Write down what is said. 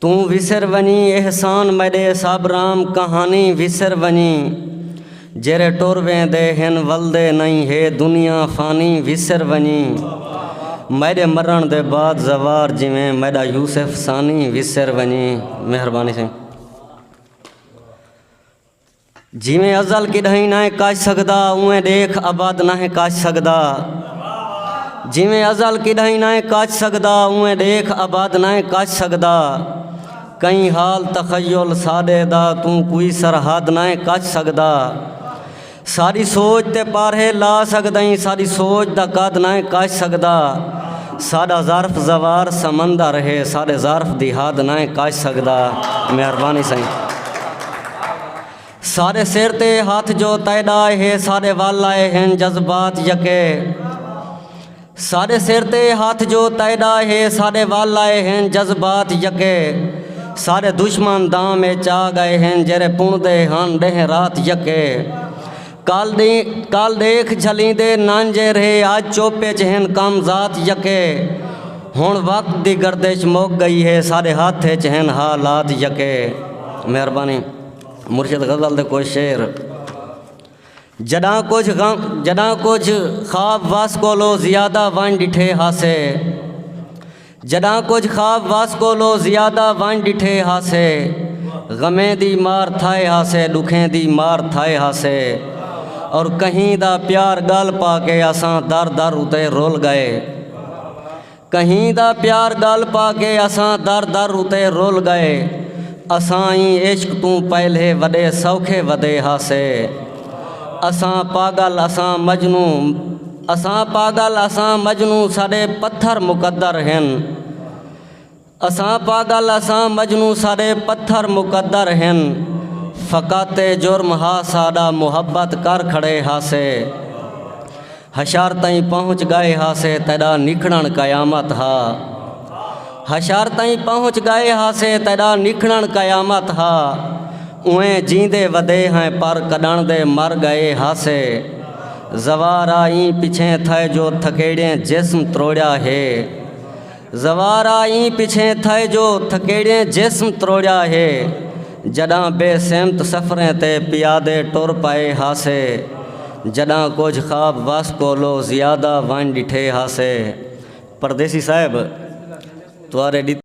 توں وسر ونجیں احسان میݙے سب رام کہانی وسر ونجیں جیرھے ٹر ویندے ہن ولدے نئیں ہے دنیا فانی وسر ونجیں میݙے مرݨ دے بعد زوار جیویں میݙا یوسف ثانی وسر ونجیں مہربانی سئیں جیویں ازل کݙاہیں ناہیں کاج سڳدا اونویں ݙیکھ ابد ناہیں کاج سڳدا جیویں ازل کݙاہیں ناہیں کاج سڳدا اونویں ݙیکھ ابد ناہیں کاج سڳدا کئیں حال تخیل ساݙے دا توں کوئی سرحد ناہیں کاج سڳدا ساݙی سوچ تے پارھے لا سڳدئیں ساݙی سوچ دا قد ناہیں کاج سڳدا ساݙا ظرف زوار سمندر ہے ساݙے ظرف دی حد ناہیں کاج سڳدا مہربانی سئیں سارے سر تے ہاتھ جو تیڈا ہے سارے ول آئے ہیں جذبات یکے سارے سر تے ہاتھ جو تیڈا ہے سارے ول آئے ہیں جذبات یکے سارے دشمن دام چا گئے ہیں جرے پوندے ہن ڈہ رات یکے کل ݙیکھ جھلیندے نانجھے رھے اڄ چپ اچ ہن کم ذات یکے ہݨ وقت دی گردش مک ڳئی ہے ساݙے ہتھ اچ ہن حا لات یکے مہربانی مرشد غزل دے کجھ شعر جݙاں کجھ غم جݙاں کجھ خواب وس کولو زیادہ ونڄ ݙٹھے ہاسے۔ جݙاں کجھ خواب وس کولو زیادہ ونڄ ݙٹھے ہاسے غمیں دی مار تھائے ہاسے ݙکھیں دی مار تھائے ہاسے اور کہیں دا پیار ڳل پا کے اساں در در اتے رل ڳئے کہیں دا پیار ڳل پا کے اساں در در اتے رل ڳئے اساں ایں عشق توں پہلے وݙے سوکھے ودے ہاسے اساں پاڳل اساں مجنوں اساں پاگل اساں مجنوں ساݙے پتھر مقدر ہن اساں پاگل اساں مجنوں ساݙے پتھر مقدر ہن فقط اے جرم ہا ساݙا محبت کر کھڑے ہاسے حشر تئیں پہنچ ڳئے ہاسے تیݙا نکھڑݨ قیامت ہا حشر تئیں پہنچ ڳئے ہاسے تیݙا نکھڑݨ قیامت ہا۔ اوئیں جیندے ودے ہیں پر کڈݨ دے مر گئے ہاسے زوارا ایں پچھیں تھئے جو تھکیڑیں جسم تروڑیا ہے زوارا ایں پچھیں تھئے جو تھکیڑیں جسم تروڑیا ہے جڈاں بے سمت سفریں تے پیادے ٹر پئے ہاسے جڈاں کجھ خواب وس کولو زیادہ ونڄ ݙٹھے ہاسے پردیسی صاحب توارے ݙتے